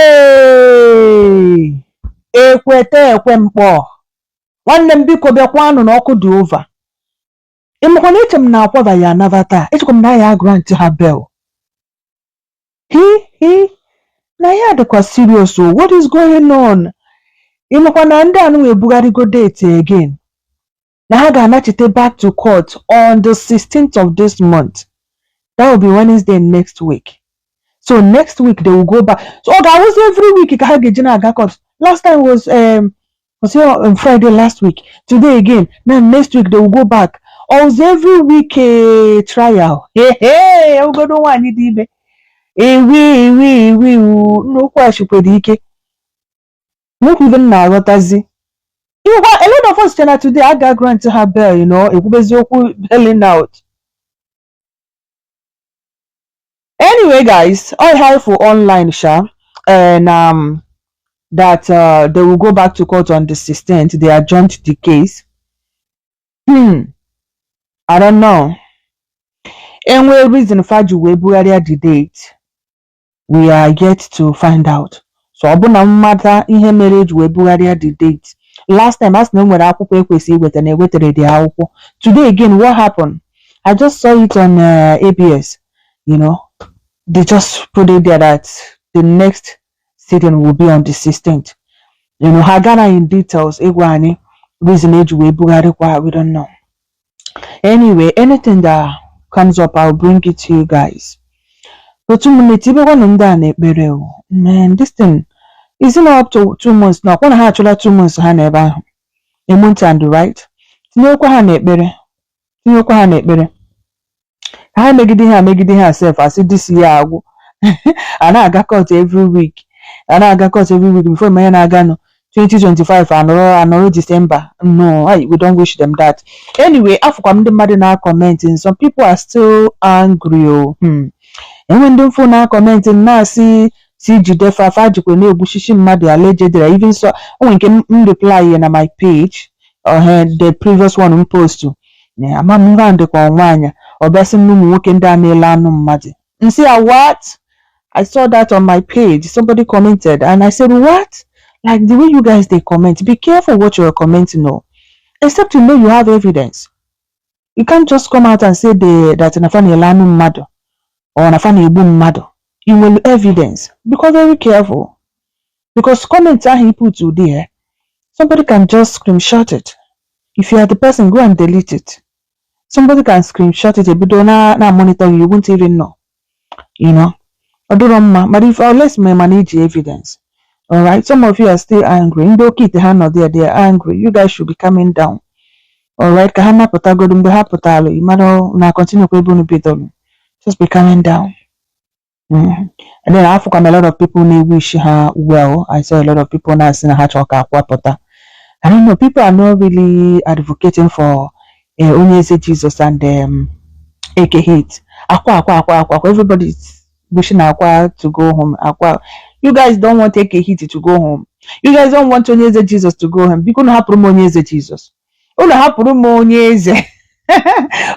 Hey! ekweta ekwe mkpọ nwanne m biko bịakwanụ na ọkụ dị over ịmakwa na eche m na akwaba ya anaba taa echekwa m na a ya-agrant ha bail hi hi na ya dịkwa serious o what is going on ịmakwa na ndị anụwa ebugharịgo date again na ha ga-anachite back to court on the 16th of this month that will be Wednesday next week so next week they will go back so ọ ga-awụzi every week ka ha ga-eji na-aga court last time was um, was here on Friday last week today again now next week they will go back ọ wụzi every week trial hey, hey, ọgọdọ nwaanyị dị ime ewi ewi ewi nnukwu achịkwere ike Look even na aghọtazi. Ịgwa a lot of us che na today a ga-agrant ha bail you know, ekwubezi okwu bailing out. Anyway guys, ọ ihe anyị fụ online sha eh, na um, that uh, they will go back to court on the 16th. They adjourned the case. Hmm, I don't know. Enwee reason fa ji wee bugharịa the date. we are yet to find out so ọ bụ na m mata ihe mere eji wee bugharịa the date last time a sị na e nwere akwụkwọ ekwesị iweta na ewetara the akwụkwọ today again what happened i just saw it on uh, ABS you know they just put it there that the next sitting will be on the 16th you know ha gara in details ịgwa anyị reason eji wee bugharịkwa we don't know anyway anything that comes up I'll bring it to you guys otu ụmụnne tibekwanụ ndị a n'ekpere o man this thing is it not up to two months na ọkwa na ha achụla two months ha nọ ebe ahụ a month and right tinyekwa ha n'ekpere tinyekwa ha n'ekpere ka ha megide ihe a megide ihe a sef a sị this year agwụ a na-aga court every week a na-aga court every week before ị ma ihe na-aganụ 2025 anọrọ anọrọ December no I, we don't wish them that anyway afụkwa m ndị mmadụ na comment and some people are still angry o hmm. enwe ndị m fụ na comment na-asị sị jide fa fa jikwa na-egbuchichi mmadụ allegedly even so o nwere nke m m reply ya na my page uh, the previous one m post na ama m ihe ahụ dịkwa nwaanyị ọ bịa sị m na ụmụ nwoke ndị a na-ele anụ mmadụ m sị ya what I saw that on my page somebody commented and I said what like the way you guys dey comment be careful what you are commenting o except you know you have evidence you can't just come out and say the, that na fa na-ele anụ mmadụ or na fa na-egbu mmadụ you nwere evidence bekwa very careful because comment ahụ i put there somebody can just screenshot it if you are the person go and delete it somebody can screenshot it ebido na na monitor you won't even know you know ọ dịrọ mma but if unless ma ị ma na i ji evidence alright some of you are still angry ndị oke ite ha nọ there they are angry you guys should be calming down alright ka ha napụtagodo mgbe ha pụtara ị mara na continue kwa ebe unu bidoro just be calming down Mm. And then afụkwa m a lot of people na-ewish ha well. I saw a lot of people na-asị na ha chọrọ ka Akwa pụta. I don't know, people are not really advocating for eh, onye eze Jesus and um, Eke Hit. Akwa, akwa, akwa, akwa, akwa. Everybody is wishing Akwa to go home. Akwa. You guys don't want Eke Hit to go home. You guys don't want onye eze Jesus to go home. Bikonu hapụrụ m onye eze Jesus. unu hapụrụ m onye eze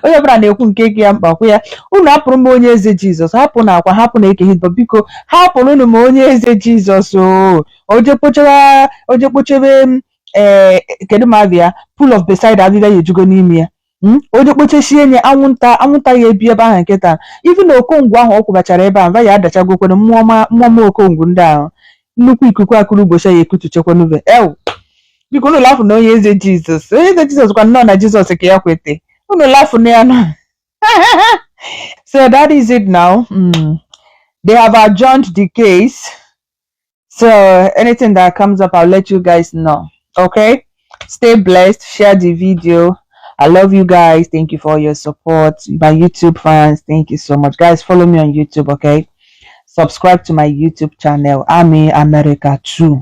onye ọbụla na-ekwu nke dị ya mkpa kwuo ya unu hapụrụ m onye eze jizọs hapụnụ akwa hapụnụ eke hit but biko hapụrụnụ m onye eze jizọs o o jee kpochara o jee kpochee ee kedu ma abịa pool of bethsaida ahịhịa ejugo n'ime ya Mm? o jee kpochesie nye anwụnta anwụnta ya ebi ebe ahụ nkịta even okongwu ahụ ọ kwụbachara ebe ahụ mba ya adachagokwana mmụọ ma mmụọ ma okongwu ndị ahụ nnukwu ikuku akụrụ ụbọchị ya ekutuchekwanuve ew biko unu lafụ na onye eze jizọs onye eze jizọs kwa nnọọ na jizọs ka ya kwete unu lafụ na ya na so that is it now mm. they have adjourned the case so anything that comes up i'll let you guys know okay stay blessed share the video I love you guys. Thank you for your support. My YouTube fans, thank you so much. Guys, follow me on YouTube, okay? Subscribe to my YouTube channel, Army America 2.